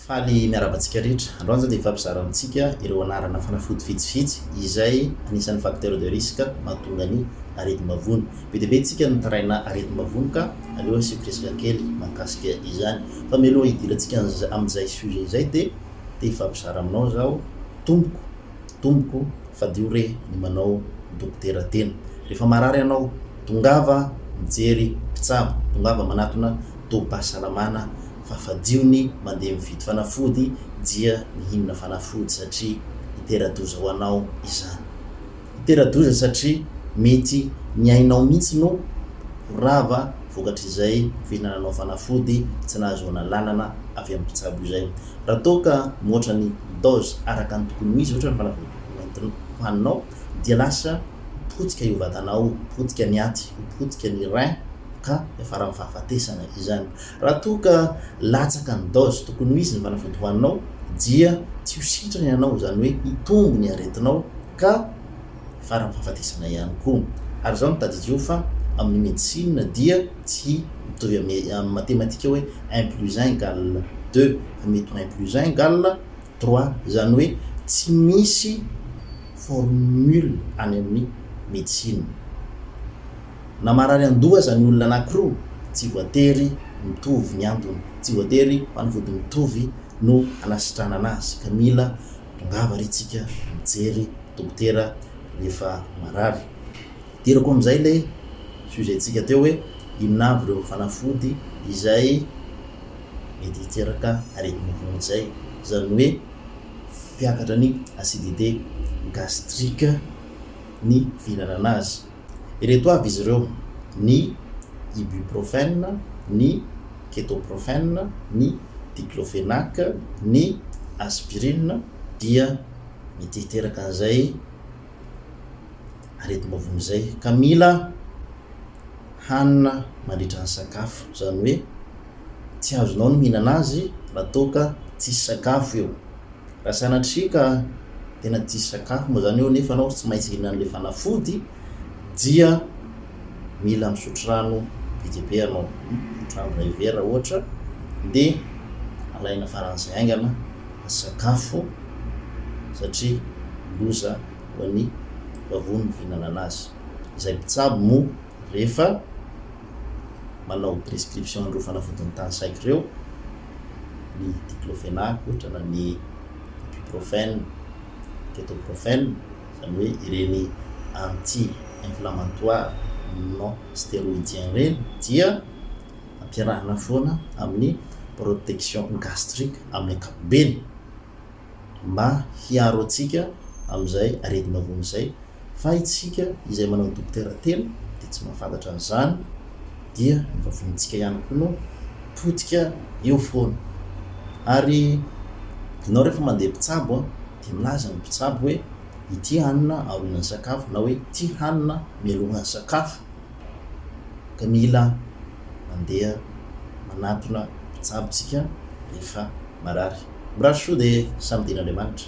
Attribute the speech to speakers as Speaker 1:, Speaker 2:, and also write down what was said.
Speaker 1: Faly miarahaba antsika rehetra. Androany izao dia hifampizara amintsika ireo anarana fanafody vitsivitsy izay anisan'ny facteurs de risque mahatonga ny aretim-bavony. Be dia be antsika no mitaraina aretim-bavony ka aleo asiako resaka kely mahakasika izany. Fa mialoha hidirantsika amin'izay sujet izay dia te hifampizara aminao zaho tompoko, tompoko fadio re ny manao dokotera tena. Rehefa marary ianao tongava mijery mpitsabo, tongava manatona tobim-pahasalamana fa fadio ny mandeha mividy fanafody dia mihinana fanafody satria hitera-doza ho anao izany. Hitera-doza satria mety ny ainao mihitsy no ho rava vokatr'izay fihinananao fanafody tsy nahazoana alalana avy amin'ny mpitsabo izay. Raha toa ka mihoatra ny dose araka ny tokony ho izy ohatra ny fanafody nentinao hohaninao dia lasa potika io vatanao io, potika ny aty, ho potika ny rein ka hiafara amin'ny fahafatesana izany. Raha toa ka latsaka ny dose tokony ho izy ny fanafody hohaninao dia tsy ho sitrana ianao, izany hoe hitombo ny aretinao ka faran'ny fahafatesana ihany koa. Ary izao no tadidio fa amin'ny medecine dia tsy mitovy amin'ny matematika hoe un plus un égale deux fa mety ho un plus un égale trois, izany hoe tsy misy formule any amin'ny medecine. Na marary an-doha aza ny olona anankiroa, tsy voatery mitovy ny antony. Tsy voatery fanafody mitovy no anasitranana azy ka mila tongava re tsika mijery dokotera rehefa marary. Idirako amin'izay ilay sujet tsika teo hoe inona avy ireo fanafody izay mety hiteraka aretina vonjy izay, izany hoe mpiakatra ny acidite gastrique ny fihinanana azy. Ireto avy izy ireo, ny ibuprofène, ny ketoprofène, ny diclofenac, ny aspirine, dia mety hiteraka an'izay aretim-bavony izay ka mila hanina mandritra ny sakafo, izany hoe tsy azonao ny mihinana azy raha toa ka tsisy sakafo eo. Raha sanatria ka tena tsisy sakafo moa izany eo nefa ianao tsy maintsy hihinana an'ilay fanafody dia mila misotro rano be dia be ianao, misotro rano iray vera ohatra dia alaina faran'izay haingana ny sakafo satria loza ho an'ny vavony ny fihinanana azy. Izay mpitsabo moa rehefa manao prescription an'ireo fanafodin'ny tany saiko ireo, ny diclofenac ohatra na ny ibuprofène, ketoprofène, izany hoe ireny anti inflammatoire non stéroïdien ireny dia ampiarahana foana amin'ny protection gastrique amin'ny ankapobeny. mba hiaro antsika amin'izay aretina vono izay, fa isika izay manao dokotera tena dia tsy mahafantatra an'izany, dia ny vavonitsika ihany koa no potika eo foana. Ary ianao rehefa mandeha mpitsabo an, dia milaza ny mpitsabo hoe ity hanina aorianan'ny sakafo na hoe ity hanina mialohan'ny sakafo. dia mila mandeha manatona mpitsabo isika rehefa marary. Mirary soa dia samy dian'Andriamanitra.